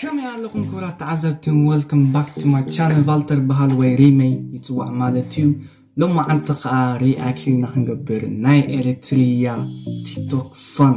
ከመይ ኣለኹም ክብራት ተዓዘብቲ ወልከም ባክ ቱ ማይ ቻነል ቫልተር በሃል ወይ ሪመይ ይፅዋዕ ማለት እዩ ሎሚ ዓንቲ ከዓ ሪኣክሽን ኢና ክንገብር ናይ ኤሪትሪያ ቲክቶክ ፋን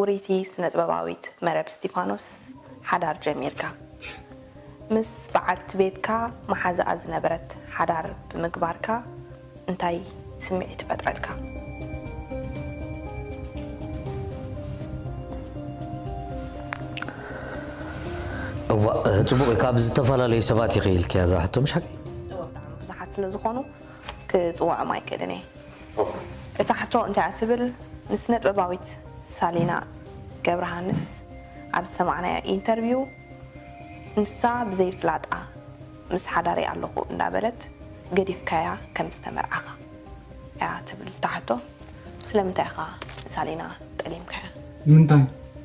ውርይቲ ስነጥበባዊት መረብ እስቲፋኖስ ሓዳር ጀሚርካ ምስ በዓልቲ ቤትካ መሓዛኣ ዝነበረት ሓዳር ብምግባርካ እንታይ ስምዒት ፈጥረልካ? እዋእ ጽቡቕ እዩ ካብ ዝተፈላለዩ ሰባት ኢኺ ኢልክያ እዛ ሕቶ ምሽ ሓቀይ? እወ ብጣዕሚ ብዙሓት ስለዝኾኑ ክጽውዖም ኣይክእልን እየ። ቡር። እታ ሕቶ እንታይ እያ ትብል ንስነጥበባዊት ሳሊና ገብረሃንስ ኣብ ዝሰማዕናዮ ኢንተርቪው ንሳ ብዘይ ፍላጣ ምስ ሓዳረይ ኣለኹ እንዳበለት ገዲፍካያ ከም ዝተመርዓኻ እያ ትብል እታ ሕቶ ስለምንታይ ኢኻ ንሳሊና ጠሊምካያ? ንምንታይ?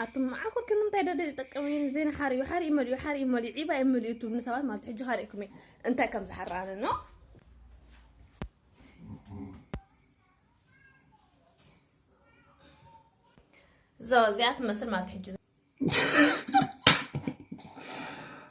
ኣቱም መዓኮር ከም እንታይ ደደ ዝጠቀም እዩ ዜና ሓሪኡ ሓሪኡ መሊኡ ሓሪኡ መሊኡ ዒባ እዩ መሊኡ ትብሉ ሰባት ማለት ሕጂ ካሪእኩም እዩ እንታይ ከም ዝሓራነ ኖ ዞ እዚኣ ትመስል ማለት ሕጂ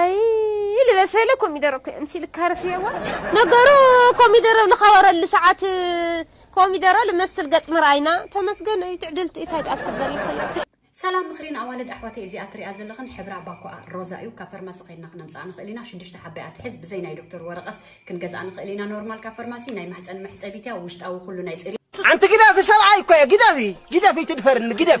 ኣይይ ልበሰለ ኮሚደረ እኮ የምሲል ካርፍየዋ ነገሩ ኮሚደረ ብ ልኸበረሉ ሰዓት ኮሚደረ ልመስል ገጽ ምርኣይና ተመስገን እዩ ትዕድልቲ እዩ ታይ ድኣ ክግበር ይኽእል። ሰላም ምኽሪ ንኣዋልድ ኣሕዋተይ እዚኣ ትሪኣ ዘለኽን ሕብራ ባኮኣ ሮዛ እዩ ካብ ፈርማሲ ከድና ክነምፀኣ ንኽእል ኢና ሽዱሽተ ሓባ እያ ትሕዝ ብዘይ ናይ ዶክተር ወረቀት ክንገዝኣ ንኽእል ኢና ኖርማል ካብ ፈርማሲ ናይ ማሕፀን መሕፀቢት እያ ውሽጣዊ ኩሉ ናይ ፅርየት ሓንቲ ግደፊ ሰብኣይ እኮ እየ ግደፊ ግደፊ ኣይትድፈርኒ ግደፊ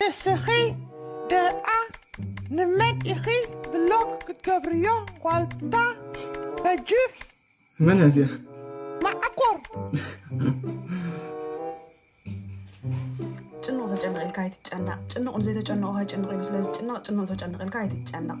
ንስኺ ደኣ ንመን ኢኺ ብሎክ ክትገብርዮ ዋልታ ነጂፍ። መን እያ እዚኣ? ማዓኮር ጭኑቕ ተጨነቕ ኢልካ ኣይትጨነቕ። ጭኑቕ ንዘይተጨነቑ ከይጭንቕ ኢሉ ስለዝጭነቕ ጭኑቕ ተጨነቕ ኢልካ ኣይትጨነቕ።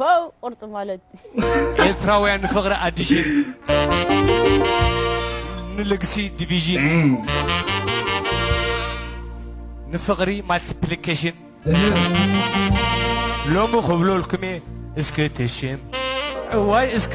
ፖው ቁርፂ ማለት ኤርትራውያን ንፍቕሪ ኣዲሽን ንልግሲ ዲቪዥን ንፍቕሪ ማልቲፕሊኬሽን ሎሚ ክብለልኩም እየ እስኪ ትሽም እዋይ እስኪ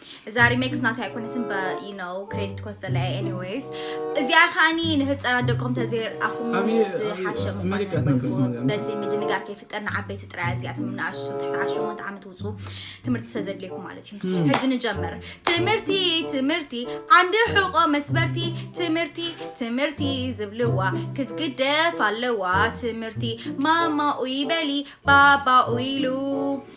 እዛ ሪሜክስ ናተይ ኣይኮነትን በኢነው ክሬዲት ኮስተ ላይ ኤኒዌይስ እዚኣ ከዓኒ ንህፃናት ደቆም ተዘይርኣኹም ዝሓሸ ምኳኑ በዚ ምድንጋር ከይፍጠር ንዓበይቲ ጥራያ እዚኣቶም ንኣሽቱ ትሕቲ ዓሸሞንተ ዓመት ውፁ ትምህርቲ ስለዘድልየኩ ማለት እዩ ሕጂ ንጀምር ትምህርቲ ትምህርቲ ዓንዲ ሕቆ መስበርቲ ትምህርቲ ትምህርቲ ዝብልዋ ክትግደፍ ኣለዋ ትምህርቲ ማማ ኡይ በሊ ባባ ኡይሉ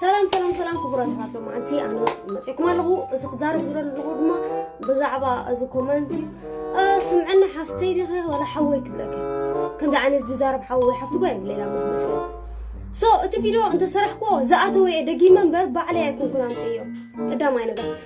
ሰላም ሰላም ሰላም ክቡራት ሰባት ሎማዓንቲ ኣነ መፂእኩም ኣለኹ እዚ ክዛረብ ዝደለኹ ድማ ብዛዕባ እዚ ኮመንት እዩ ስምዐና ሓፍተይ ዲኸ ዋላ ሓወይ ክብለከ ከምዚ ዓይነት ዝዛረብ ሓወይ ሓፍቲ ጓ የብለላ መግለፂ ሶ እቲ ቪድዮ እንተሰራሕክዎ ዝኣተወ እየ ደጊመ እምበር ባዕለይ ኣይኮንኩን ኣምፅዮ ቀዳማይ ነገር